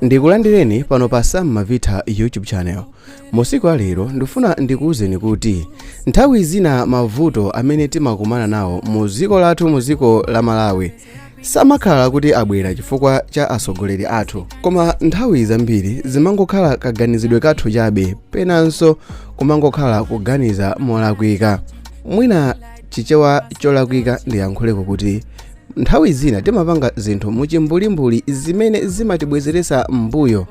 ndikulandireni pano pa sam mavitha youtube channel musiku alero ndifuna ndikuwuzeni kuti nthawi zina mavuto amene timakumana nawo mu dziko lathu mu dziko la malawi samakhala kuti abwera chifukwa cha atsogoleri athu koma nthawi zambiri zimangokhala kaganizidwe kathu chabe penanso kumangokhala kuganiza molakwika mwina chichewa cholakwika ndiyankhuleko kuti nthawi zina timapanga zinthu muchimbulimbuli zimene zimatibwezeretsa m'mbuyo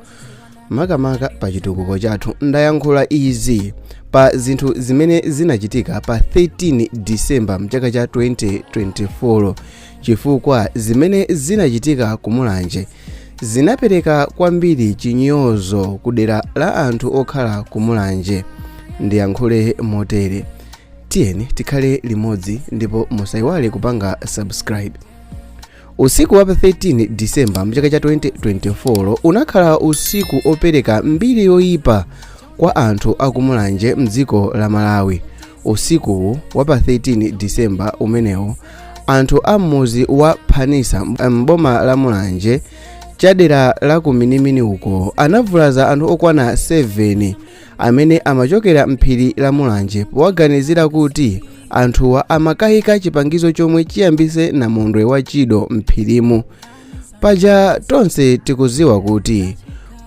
makamaka pa chitukuko chathu ndayankhula izi pa zinthu zimene zinachitika pa 13 disemba mchaka cha 2024 chifukwa zimene zinachitika kumulanje zinapereka kwambiri chinyozo ku dera la anthu okhala kumulanje ndiyankhule motere tiyeni tikhale limodzi ndipo musaiwale kupanga subscribe usiku wa pa 13 disemba mchaka cha 2024 unakhala usiku opereka mbiri yoyipa kwa anthu akumulanje mdziko la malawi usikuwu wa pa 13 disemba umenewu anthu a m'mudzi wa phanisa m'boma la mulanje chadera la kuminimini uko anavulaza anthu okwana 7 amene amachokera m'phiri la mulanje powaganizira kuti anthuwa amakayika chipangizo chomwe chiyambise namondwe wa chido m'phirimu paja tonse tikuziwa kuti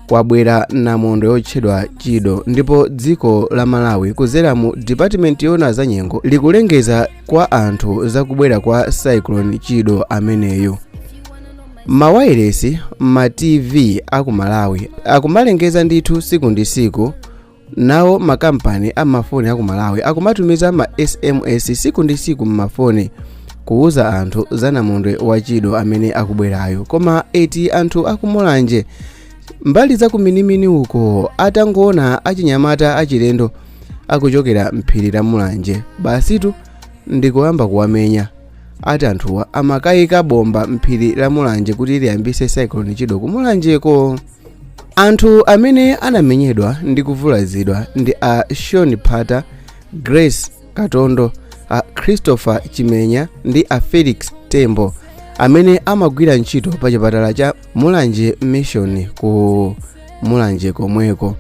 kwabwera namondwe yotchedwa chido ndipo dziko la malawi kuzera mu dipatimenti yona za nyengo likulengeza kwa anthu zakubwera kwa cyclone chido ameneyu mawailesi ma tv aku malawi akumalengeza ndithu siku ndi siku nawo makampani amafoni aku malawi akumatumiza ma sms siku ndi siku mmafoni kuwuza anthu za namondwe wachido amene akubwerayo koma eti anthu akumulanje mbali za kuminimini uko atangoona achinyamata achilendo akuchokera mphiri la mulanje basitu ndikuyamba kuwamenya ati anthuwa amakayika bomba mphiri la mulanje kuti liyambise cyclone chido ku mulanjeko anthu amene anamenyedwa ndi kuvulazidwa ndi a sean pata grace katondo a christopher chimenya ndi a felix tembo amene amagwira ntchito pa chipatala cha mulanje mission ku mulanje komweko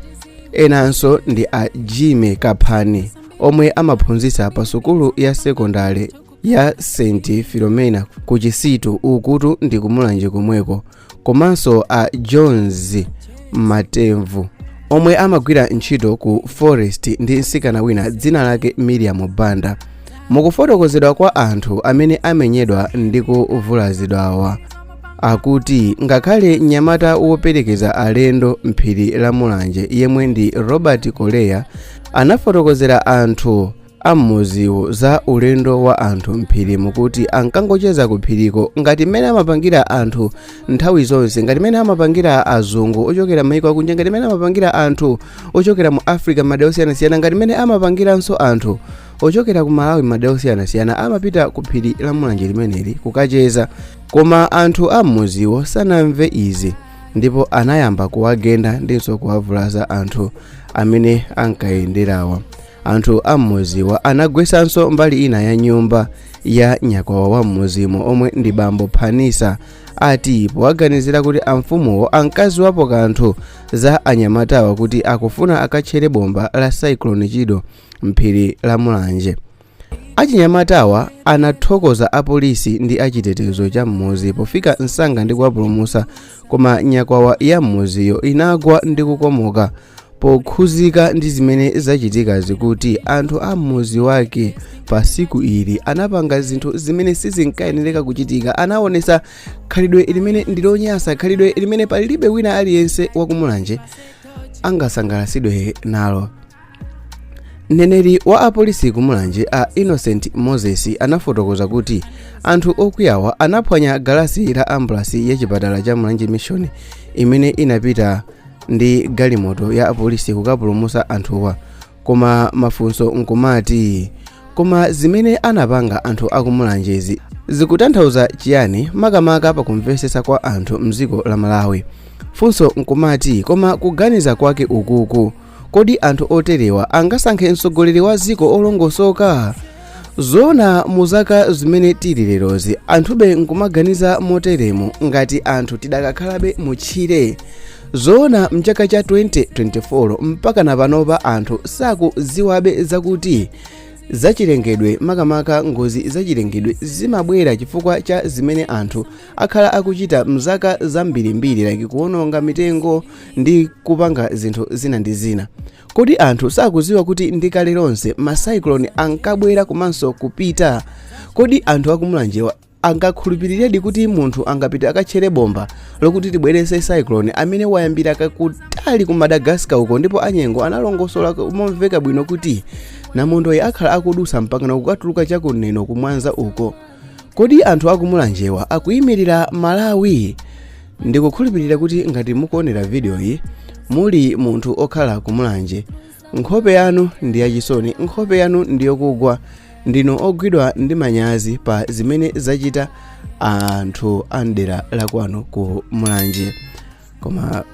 enanso ndi a jimmy kaphani omwe amaphunzitsa pa sukulu ya sekondale ya st filomena ku chisitu ukutu ndi kumulanje komweko komanso a jones matemvu omwe amagwira ntchito ku forest ndi msikana wina dzina lake miriam banda mukufotokozedwa kwa anthu amene amenyedwa ndi kuvulazidwawa akuti ngakhale mnyamata woperekeza alendo mphiri la mulanje yemwe ndi robert koleya anafotokozera anthu ammuziwo za ulendo wa anthu mphiri mukuti ankangocheza ku phiriko ngati mmene amapangira anthu nthawi zonse ngati mmene amapangira azungu ochokera maiko akunja ngati mmene amapangira anthu ochokera mu africa mmadera osiyanasiyana ngati mmene amapangiranso anthu ochokera ku malawi mmadera osiyanasiyana amapita ku phiri la mulanje limeneli kukacheza koma anthu ammuziwo sanamve izi ndipo anayamba kuwagenda ndinso kuwavulaza anthu amene ankayenderawa anthu a mmuziwa anagwesanso mbali ina ya nyumba ya nyakwawa wa mmuzimo omwe ndi bambo phanisa ati powaganizira kuti amfumuwo ankaziwapo kanthu za anyamatawa kuti akufuna akatchere bomba la cyclone chido mphiri la mulanje achinyamatawa anathokoza apolisi ndi achitetezo cha m'muzi pofika msanga ndi kuwapulumutsa koma nyakwawa ya m'muziyo inagwa ndi kukomoka pokhuzika ndi zimene zachitikazi kuti anthu a m'muzi wake pa siku ili anapanga zinthu zimene sizinkayenereka kuchitika anaonesa khalidwe limene ndilonyasa khalidwe limene palibe wina aliyense wakumulanje angasangalatsidwe nalo mneneri wa apolisi ku mulanje a innocent moses anafotokoza kuti anthu okwiyawa anaphwanya galasi la ambulasi ya chipatala cha mulanje mission imene inapita ndi galimoto ya apolisi kukapulumusa anthuwa koma mafunso nkumati koma zimene anapanga anthu akumulanjezi zikutanthauza chiyani makamaka pakumvetsetsa kwa anthu mdziko la malawi funso nkumati koma kuganiza kwake ukuku kodi anthu oterewa angasankhe mtsogoleri wa dziko olongosoka zoona mu zaka zimene tili lerozi anthube nkumaganiza moteremo ngati anthu tidakakhalabe mu tchire zoona mchaka cha 2024 mpaka na panopa anthu sakudziwabe zakuti zachilengedwe makamaka ngozi zachilengedwe zimabwera chifukwa cha zimene anthu akhala akuchita mzaka zambirimbiri like kuononga mitengo ndi kupanga zinthu zina ndi zina kodi anthu sakuziwa kuti ndi kale lonse ma cyclone ankabwera komanso kupita kodi anthu akumulanjewa angakhulupiriredi kuti munthu angapita akatchere bomba lokuti tibwerese cyclone amene wayambira kutali ku madagascar uko ndipo anyengo analongosola momveka bwino kuti namondoyi akhala akudusa mpaka nakukatuluka chakuno kumwanza uko Kodi anthu aku Mulanjewa akuyimirira Malawi? Ndikukhulupirira kuti ngati mukuonera video yi muli munthu okhala ku Mulanje, nkhope yanu ndi yachisoni, nkhope yanu ndi yokugwa, ndinu ogwidwa ndi manyazi pa zimene zachita anthu a mdera la kwanu ku Mulanje. koma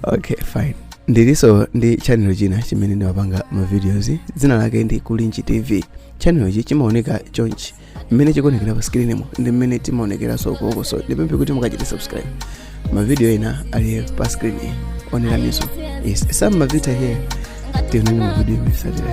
okay fine ndiliso ndi chanelo china chimene ndimapanga mavideos dzina lake ndi kulinji tv chanelo ichi chimaoneka chonchi mmene chikuonekera pa screen mo ndi mmene timaonekeranso ukoko so ndipemphe kuti mukachite subscribe mavidiyo ena ali pa screen oneraniso yes some mavita here tionane mu vidiyo imene satira